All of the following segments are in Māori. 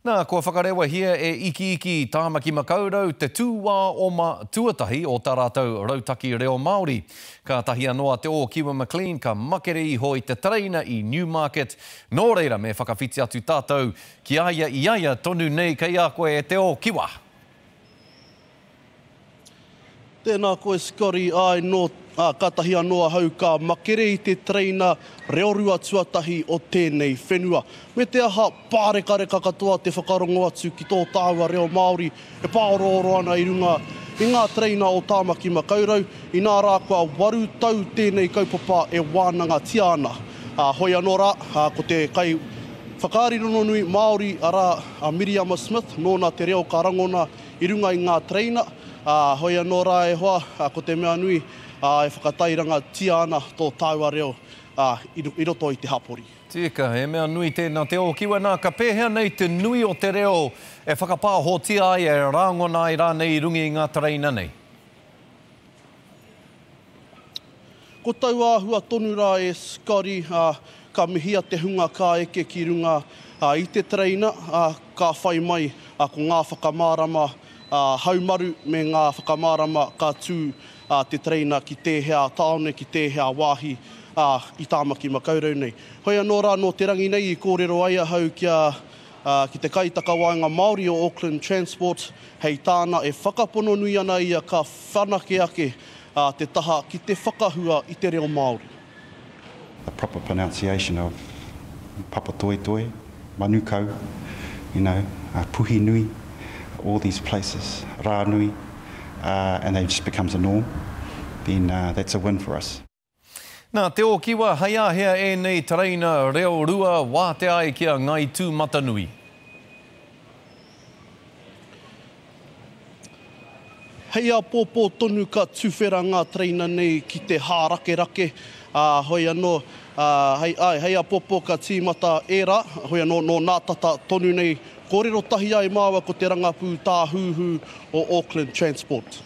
Nā, kua whakarewahia e Ikiiki Tāmaki Makaurau te tūwā oma tuatahi o tā rātou Rautaki Reo Māori. Kātahi anō a Te Ōkiwa McLean ka makere iho i te tereina i Newmarket, nō reira me whakawhiti atu tātou ki a ia i a ia tonu nei kei a koe e Te Ōkiwa. Tēnā koe Scotty, āe nō, ā, kātahi anō ahau ka makere i te tereina reorua tuatahi o tēnei whenua. Me te aha, pārekareka katoa te whakarongo atu ki tō tāua reo Māori e pāorooro ana i runga i ngā tereina o Tāmaki Makaurau, inā rā kua waru tau tēnei kaupapa e wānangatia ana. Ā, hoi anō rā, ā, ko te kai whakaari rongonui Māori, arā, a Miriama Smith, nōna te reo ka rangona i runga i ngā tereina, ā, hoi anō rā e hoa, ko te mea nui, ā, e whakatairangatia ana tō tāua reo, ā, i roto i te hapori. Tika, he mea nui tēnā te ōkiwa, nā, ka pēhea nei te nui o te reo e whakapāhotia ai, e rāngona ai rānei i runga i ngā tereina nei? Ko taua āhua tonu rā e Scotty, ā, ka mihia te hunga ka eke ki runga i te tereina, ā, ka whai mai ko ngā whakamārama haumaru me ngā whakamārama ka tū te tereina ki tēhea tāone, ki tēhea wāhi i Tāmaki Makaurau nei. Hoi anō rā nō te rangi nei i kōrero ai ahau kia ki te Kaitakawaenga Māori o Auckland Transport, hei tāna e whakapono nui ana ia ka whanake ake te taha ki te whakahua i te reo Māori. The proper pronunciation of Papatoetoe, Manukau, you know, Puhinui, all these places, Ranui, and then it just becomes a norm, then that's a win for us. Nā Te Ōkiwa, hai āhea ēnei tereina reo rua wātea ai ki a Ngāi Tūmatanui? Hei āpōpō tonu ka tuwhera ngā tereina nei ki te hārakerake, ā, hoi anō, ā, hei, āe, hei āpōpō ka tīmata ērā, hoi anō, nō nā tata tonu nei, kōrero tahi ai māua ko te rangapū tāhūhū o Auckland Transport.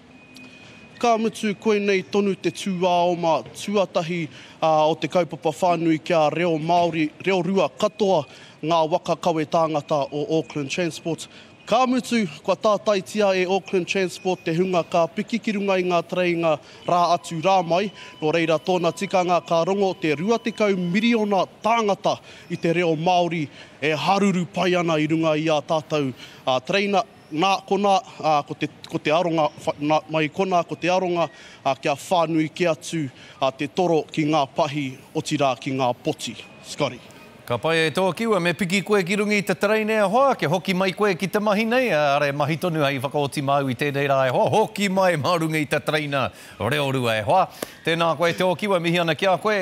Ka mutu, koinei tonu te tūāoma tuatahi o te kaupapa whānui kia reo Māori, reo rua katoa ngā waka kawe tāngata o Auckland Transport. Ka mutu, kua tātaitia e Auckland Transport te hunga ka piki ki runga i ngā tereinga rā atu rā mai, nō reira tōna tikanga ka rongo te 20 miriona tāngata i te reo Māori e haruru pai ana i runga i ā tātou tereina. Nā konā, ko te, ko te aronga, nā, mai konā ko te aronga kia whānui kē atu te toro ki ngā pahi, otirā ki ngā poti. Scotty. Ka pai e tō kiwa, me piki koe ki runga i te tereina e hoa, kia hoki mai koe ki te mahi nei, ara e mahi tonu hei whakaoti māu i tēnei rā e hoa, hoki mai mā runga i te tereina reorua e hoa. Tēnā koe tō kiwa, mihi ana ki a koe.